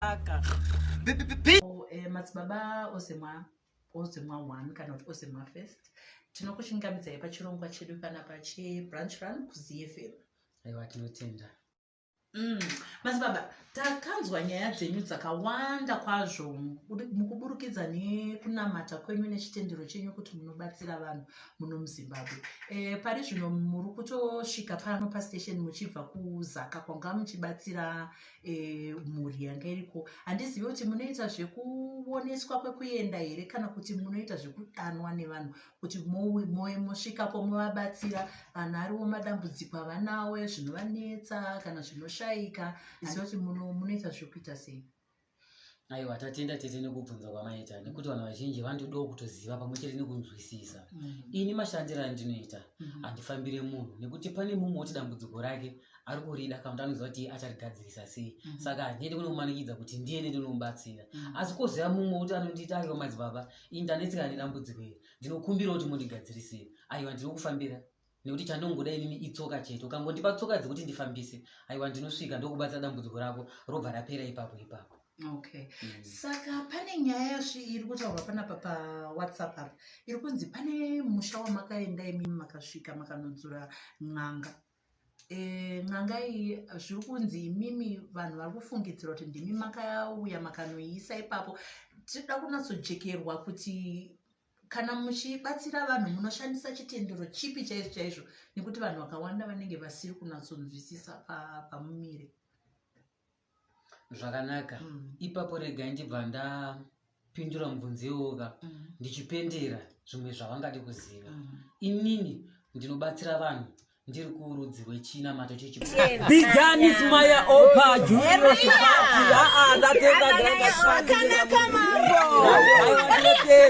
Aka. Oh, eh, madzibaba ozemwa ozemwa one kana kuti ozemwa first tinokuchingamidzai pachirongwa chedu panapa chebranch run kuzfm aiwa tinotenda mm. madzibaba takanzwa nyaya dzenyu dzakawanda kwazvo mukuburukidza nekunamata kwenyu nechitendero chenyu kuti munobatsira vanhu muno muzimbabwe e, pari zvino muri kutosvika pano pastation muchibva kuzaka kwanga muchibatsira e, mhuri yanga iriko handizivi kuti munoita zvekuoneswa kwekuenda here kana kuti munoita zvekudanwa nevanhu kuti moe mosvikapo movabatsira vanhu ariwo madambudziko avanawo zvinovanetsa kana zvinoshaika handizivi kuti munoita zvekuita sei aiwa tatenda tete nekubvunza kwamaita nekuti vanhu vazhinji vandodawo kutoziva pamwe chete nekunzwisisa mm. ini mashandiro andinoita mm-hmm. handifambire munhu nekuti pane mumwe woti dambudziko rake ari kurida kana kuti anoziva kuti acharigadzirisa sei mm-hmm. saka handiendi kunomumanikidza kuti ndiye nendinomubatsira mm-hmm. asi koziva mumwe woti anondiita aiwa madzibaba ini ndanetseka nedambudziko iri ndinokumbira kuti mundigadzirisei aiwa ndinokufambira nekuti chandongoda inini itsoka chete ukangondipa tsoka dzekuti ndifambise aiwa ndinosvika ndokubatsa dambudziko rako robva rapera ipapo ipapo okay mm. saka pane nyaya yasvi iri kutaurwa panapa pawhatsapp apa iri kunzi pane musha wamakaenda imimi makasvika makanodzura n'anga e, n'anga iyi zviri kunzi imimi vanhu vari kufungidzira kuti ndimi makauya makanoiisa ipapo tinoda kunatsojekerwa kuti kana muchibatsira vanhu munoshandisa chitendero chipi chaizvo chaizvo nekuti vanhu vakawanda vanenge vasiri kunatsonzwisisa pamumire zvakanaka mm. ipapo rega ndibva ndapindura mubvunzi iwoka mm. ndichipendera zvimwe zvavangadi kuziva mm. inini ndinobatsira vanhu ndiri kurudzi rwechina mato chechibijanismaya opa juiosipati aa ndatenda